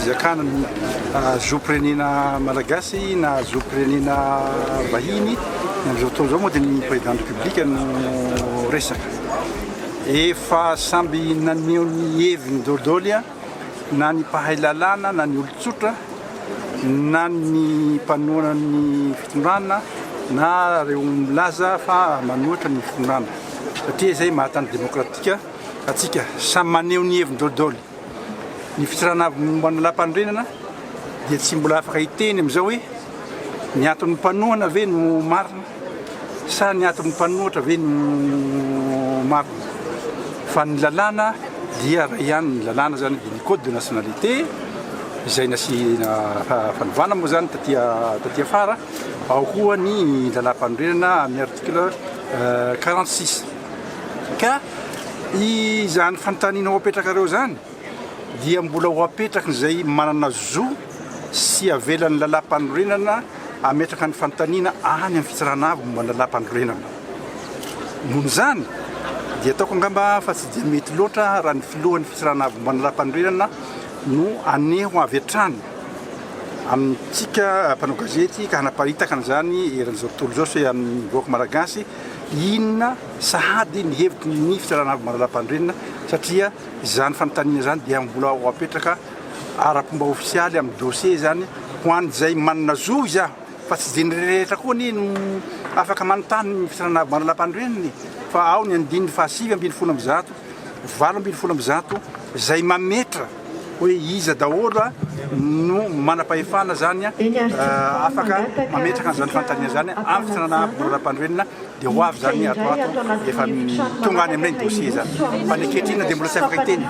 fizakana ny ah, zom-pirenena malagasy na zom-pirenena vahiny amin'izao fotoana izao moa dia ny président de publique no resaka Efa samby naneho ny heviny dodoly na ny mpahay lalàna na ny olon-tsotra na ny mpanohana ny fitondrana na ireo milaza fa manohitra ny fitondrana satria izay maha tany demokratika antsika. Samy maneho ny heviny dodoly. Ny fitsarana avy momba ny lampanorenana dia tsy mbola afaka hiteny amin'izao hoe ny aton'ny mpanohana ve no marina sa ny aton'ny mpanohatra ve no marina fa ny lalàna dia iray ihany, ny lalàna izany dia ny code de nationalité izay nasiana fanovana moa izany taty taty afara, ao koa ny lalàmpanorenana amin'ny article quarante six. Ka izany fanontaniana ho apetrakareo izany dia mbola ho apetrakin'izay manana zo sy avelan'ny Lalàmpanorenana hametraka ny fanontaniana any amin'ny Fitsarana Avo momba ny Lalàmpanorenana. Noho izany dia ataoko angamba fa tsy dia mety loatra raha ny Filohan'ny Fitsarana Avo momba ny Lalàmpanorenana no haneho avy hatrany amintsika mpanao gazety ka hanaparitaka an'izany eran'izao tontolo izao sy amin'ny vahoaka Malagasy Inona sahady ny hevitry ny Minisitra Ranarivongana Lapandrenina satria izany fanontaniana izany dia mbola ho apetraka ara-pomba ofisialy amin'ny dossier izany ho an'izay manana zo izany fa tsy izay rehetra koa anie no afaka manontany ny Minisitra Ranarivongana Lapandrenina e! fa ao ny andininy fahasivy ambin'ny folo amby zato valo ambin'ny folo amby zato izay mametra hoe iza daholo no manam-pahefana zany afaka mametraka an'izany fanontaniana zany amin'ny fitondrana Rampandroenina dia ho avy zany ato ato efa tonga any amin'ilay dossier zany fa ny ankehitriny dia mbola tsy afaka hiteny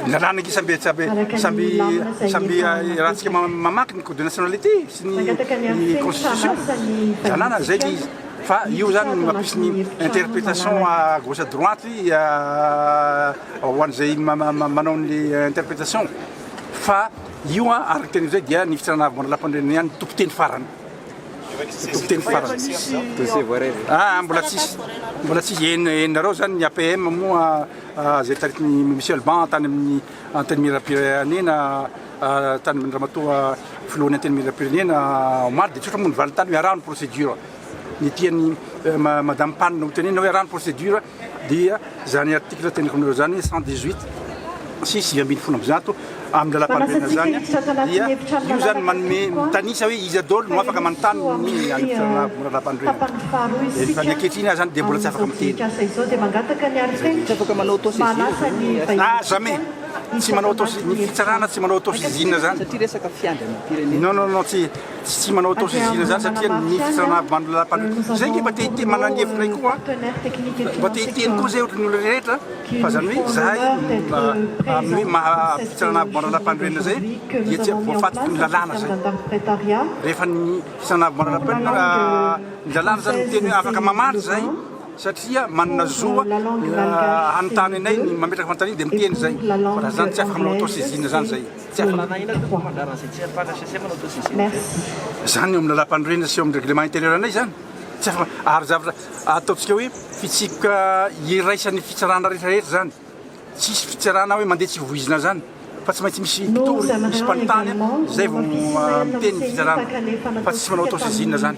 ny lalàna ange samby samby samby samby iarahantsika mamaky ny code de nationalité sy ny constitution lalàna zay le izy Fa io zany no mampisy ny interprétation à gauche à droite ho an'izay manao ny interprétation. Fa io araka ny teny izay dia ny fitirana avy ho an'ny lapanirina ihany no tompon-teny farany. Tompon-teny farany. Dossier voaray. Ah, mbola tsisy. Mbola tsisy. Henareo zany ny APM moa izay taritin'i Monsieur Alban tany amin'ny Antenimierampirenena tany Ramatoa Filohan'ny Antenimierampirenena omaly dia tsotra moa ny valintany hoe araho ny procédure. Ny tian'ny Madame Pan ho tenenina hoe araho ny procédure dia izany article teneniko anareo izany 118 sy sivy ambin'ny folo amby zato amin'ny lalam-panorenana izany dia io izany manome mitanisa hoe iza daholo no afaka manontany ny amin'ny lalam-panorenana. Efa ny ankehitriny aho izany dia mbola tsy afaka miteny. Tsy afaka manao auto-saisine ve ny STM? Ah, jamais! Tsy manao auto-saisine, ny fitsarana tsy manao auto-saisine izany. Satria resaka fiandrianam-pirenena. Non, non, non, tsy, tsy, tsy manao auto-saisine izany satria ny fitsarana avy manana lalam-panorenana. Izay ange mba te hiteny, manana ny heviny koa an, mba te hiteny koa izay ohatran'ny olona rehetra, fa izany hoe izahay amin'ny hoe maha fitsarana avy manana lalam-panorenana izay dia tsy voafatotry ny lalàna izay. Rehefa ny. Sanabo manarapenina ny lalàna izany miteny hoe afaka mamaly izay satria manana zo hanontany anay ny mametraka fanontaniana dia miteny izay fa raha izany tsy afaka manao auto saisine izany izay tsy afaka. Lalàna inona tompoko mba angalarana izay tsy ahafahana HCC manao auto saisine izay? Izany eo amin'ny lalàmpanorenana sy eo amin'ny règlement intérieur anay izany tsy afaka ary zavatra ataontsika hoe fitsipika iraisan'ny fitsarana rehetra rehetra izany. Tsy hisy fitsarana hoe mandeha tsy voizina zany fa tsy maintsy misy mpitory, misy mpanontany zay vao miteny ny fitsarana fa tsy manao auto saisine zany.